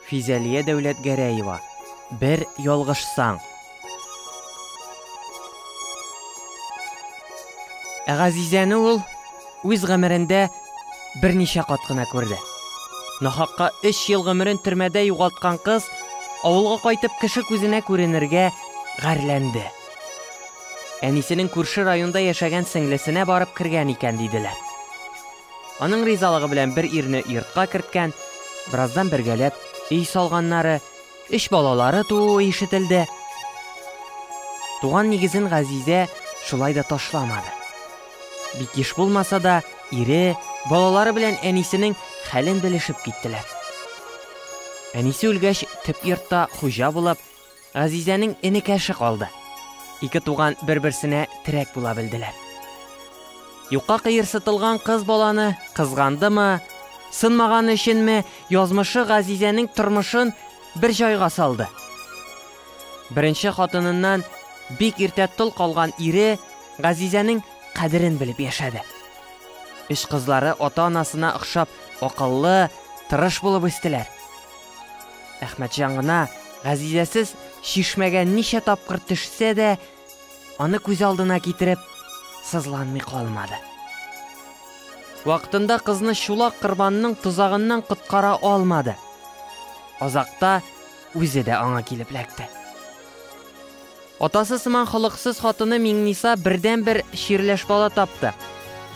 Физәлия Дәүләтгәрәева, Бер ялгышсаң. Ә Газизәне ул үз гомерендә берничә кат кына күрде. Нахакка 3 ел гомерен төрмәдә югалткан кыз авылга кайтып кеше күзенә күренергә гарьләнде. Әнисенең күрше районда яшәгән сеңлесенә барып кергән икән диделәр. Аның ризалыгы белән бер ирне йортка керткән, бераздан бергәләп өй салганнары, өч балалары тууы ишетелде. Туган нигезен Газизә шулай да ташламады. Бик еш булмаса да, ире, балалары белән әнисенең хәлен белешеп киттеләр. Әнисе үлгәч, төп йортта хуҗа булып, Азизәнең энекәше калды. Ике туган бер-берсенә терәк була белделәр. Юкка кыерсытылган кыз баланы кызгандымы, сынмаган өченме, язмышы Газизәнең тормышын бер җайга салды. Беренче хатыныннан бик иртә тол калган ире Газизәнең кадерен белеп яшәде. Өч кызлары ата-анасына охшап акыллы, тырыш булып үстеләр. Әхмәтҗан гына Газизәсез чишмәгә ничә тапкыр төшсә дә, аны күз алдына китереп, сызланмый калмады. Вакытында кызны чулак кырбанның тозагыннан коткара алмады. Азакта үзе дә аңа килеп эләкте. Атасы сыман холыксыз хатыны Миңниса бердәнбер чирләш бала тапты.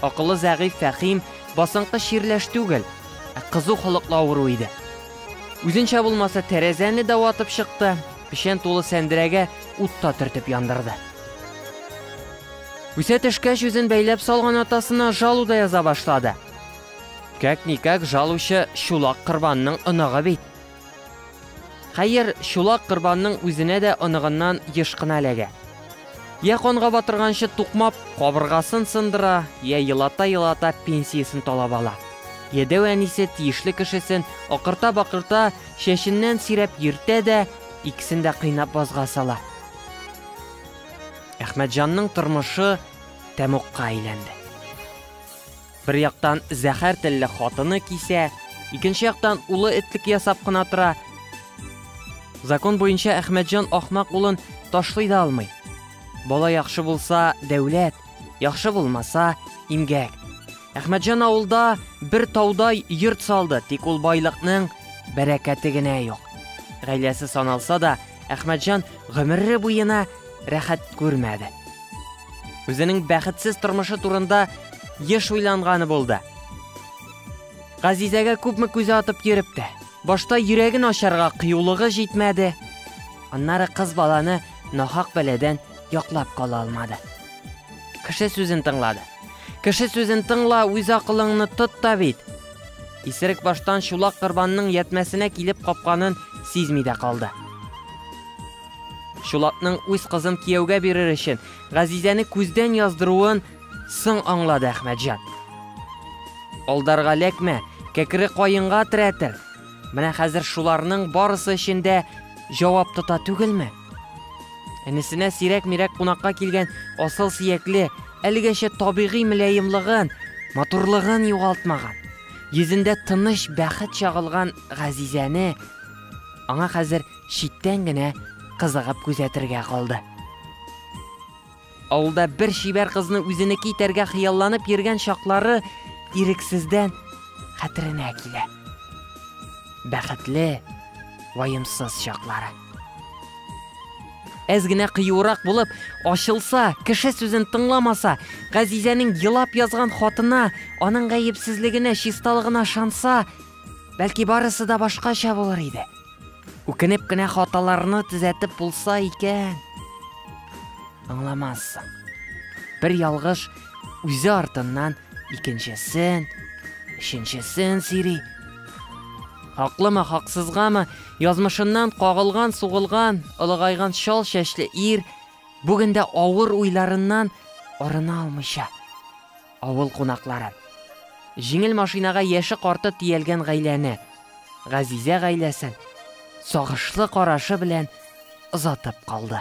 Акылы зәгыйфь Фәхим басынкы чирләш түгел, ә кызу холыклы авыру иде. Үзенчә булмаса, тәрәзәне дә ватып чыкты, печән тулы сәндерәгә ут та төртеп яндырды. Үсә төшкәч, үзен бәйләп салган атасына жалу да яза башлады. Как-никак жалучы чулак Корбанның оныгы бит. Хәер, чулак корбанның үзенә дә оныгыннан еш кына эләгә. Йә канга батырганчы тукмап, кабыргасын сындыра, йә елата-елата пенсиясен талап ала. Йәдәү әнисе тиешле кешесен акырта-бакырта чәченнән сөйрәп йөртә дә, икесен дә кыйнап базга сала. Әхмәтҗанның тормышы тәмугка әйләнде. Бер яктан зәхәр телле хатыны кисә, икенче яктан улы этлек ясап кына тора. Закон буенча Әхмәтҗан ахмак улын ташлый да алмый. Бала яхшы булса, дәүләт, яхшы булмаса, имгәк. Әхмәтҗан авылда бер таудай йорт салды, тик ул байлыкның бәрәкәте генә юк. Гаиләсе саналса да, Әхмәтҗан гомере буена рәхәт күрмәде. Үзенең бәхетсез тормышы турында еш уйланганы булды. Газизәгә күпме күзә атып йөреп тә, башта йөрәген ачарга кыюлыгы җитмәде. Аннары кыз баланы нахак бәладән яклап кала алмады. Кеше сүзен тыңлады. Кеше сүзен тыңла, үз акылыңны тот та бит. Исерек баштан чулак кырбанның ятмәсенә килеп капканын сизми дә калды. Чулакның үз кызын кияүгә бирер өчен Газизәне күздән яздыруын соң аңлады Әхмәтҗан. Алдарга ләкмә, кәкре каенга терәтер. Менә хәзер шуларның барысы өчен дә җавап тота түгелме? Энесенә сирәк-мирәк кунакка килгән асыл сиякле, әлегәчә табигый мөлаемлыгын, матурлыгын югалтмаган, йөзендә тыныч бәхет чагылган Газизәне аңа хәзер читтән генә кызыгып күзәтергә калды. Авылда бер чибәр кызны үзенеке итәргә хыялланып йөргән чаклары ирексездән хәтеренә килә. Бәхетле, ваемсыз чаклары. Әз генә кыюрак булып, ачылса, кеше сүзен тыңламаса, Газизәнең елап язган хатына, аның гаепсезлегенә, чисталыгына шанса, бәлки барысы да башкача булыр иде. Үкенеп кенә хаталарны төзәтеп булса икән. Аңламассың. Бер ялгыш үзе артыннан икенчесен, өченчесен сири. Хаклымы, хаксызгамы, язмышыннан кагылган, сугылган, олыгайган шал чәчле ир бүгендә авыр уйларыннан арына алмыйча, Авыл кунаклары. Җиңел машинага яше-карты тиялгән гаиләне, газизә гаиләсен сагышлы карашы белән озатып калды.